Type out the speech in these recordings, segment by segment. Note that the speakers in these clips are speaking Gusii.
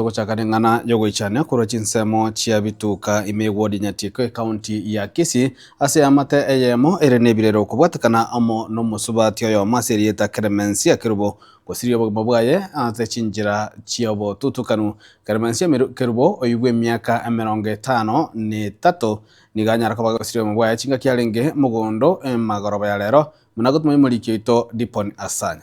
Togochaka neng'ana yogoichania korwa chinsemo chia bituka ime ewodi Nyatiko ecounty ya Kisii ase eamate eyemo ere nebirero okobwatekana amo nomosubati oyomo ase erieta Clemencia Kerubo gosiria obogima bwaye ase chinchera chiobotutukanu. Clemencia Kerubo oibwe emiaka emerongo etano netato nigo anyara koba gosiria obogima bwaye chingaki arenge mogondo emagoroba yarero buna gotuma omoriki oito Dipon Asanya.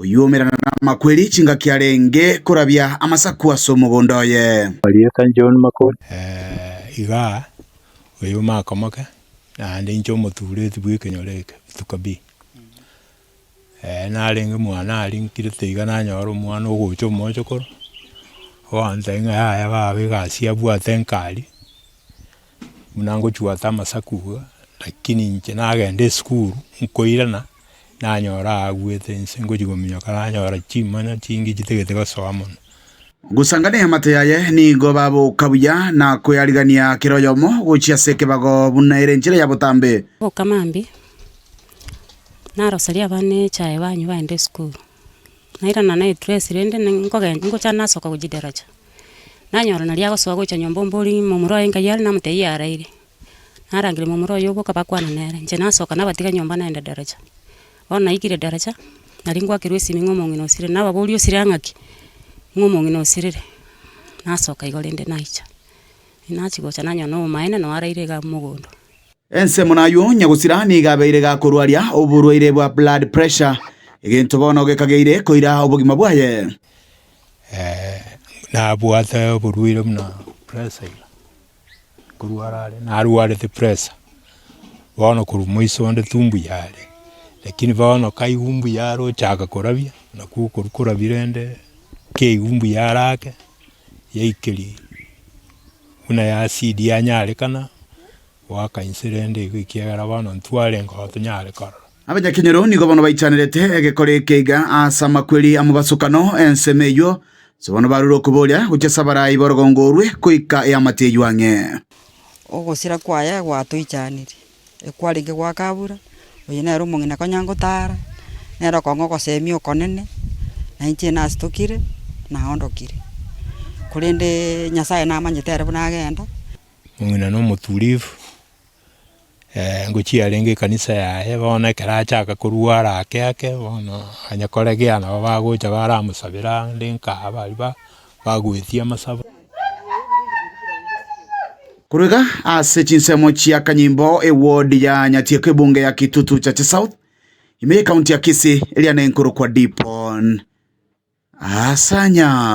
Oyuomerana namakweri chingaki arenge korabia amasaku ase omogondo oye. Marieta John Makori. Eh, iga oyo omaka omoke, naende inche omotuureti bw'ekenyoro eke, rituko bi. Eh, narenge mwane aria nkire taiga nanyora omwana ogocha omochokoro, ogontebia ng'a yaya baba egasi abwate nkari. Buna ngochwata amasaku iga, lakini inche nagenda esukuru nkoirana, nanyora aagwete inse ngochia kominyoka nanyora chimoni chingi chitagete gosoa mono. Gosangania amato yaye, nigo baboka buya na koyarigania kera oyomo gochia ase ekebago buna ere enchera ya botambe. Boka mambia, naroseria abana echae banywe baende esukuru. Nairana na edress rende ninkogen ningocha nasoka gochia daraja, nanyora naria agosoa gocha nyomba ombori momura oye nkayiari namotebia yaraire, narangeria momura oye oboka bakwana nere, inche nasoka nabatiga nyomba naenda daraja. Bono naikire daraja, nari ngwakerwa esimi ng'a omong'ina osirire, nababoria osire ang'a ki? Ng'a omong'ina osirire, nasoka igo rende naicha. Nachia gocha nanyora na omomaene nao araire iga mogondo. Ensemo naywo nyagosira nigo abeire gakorwaria oborwaire bwa blood pressure, egento bono gekageire koira obogima bwaye. Nabwate oborwaire buna pressure ira, nkorwara are, narwarete pressure, bono korwa moiso onde tu mbuya are, lakini bono kaigwa mbuya are ochaka korabia, nakwo okorwa korabia rende keigwa mbuya are ake, yaikeria buna ya acid yanyarekana, Goaka inse rende igo ekiagera bono ntwarenge oo tonyare korora. Abanyakenyoro nigo bono baichanerete egekore eke iga ase amakweri amobasokano, ensemo eywo inse bono barure okoboria, gochia ase abarai b'orogongo orwe goika eamate eywo ang'e. Ogosira kwaye gwatoichanerie, ekwarenge gwa kabura, oyo nere omong'ina konya ngotara, nere okong'a ogosemia okonene, na inche nasitokire, naondokire. Korende Nyasaye namanyete ere buna agenda. Omong'ina na omoturifu, ngochia arenge ekanisa yaye, bono ekero achaka korwara ake ake, bono onye koregia nabo bagocha baramosabera ande nkaa baria ba bagoetia amasabo. Korwa iga ase chinsemo chia kanyimbo eward ya Nyatieko ebunge ya Kitutu Chache South ime ye county ya Kisii eriana enkorokwa Dipon Asanya.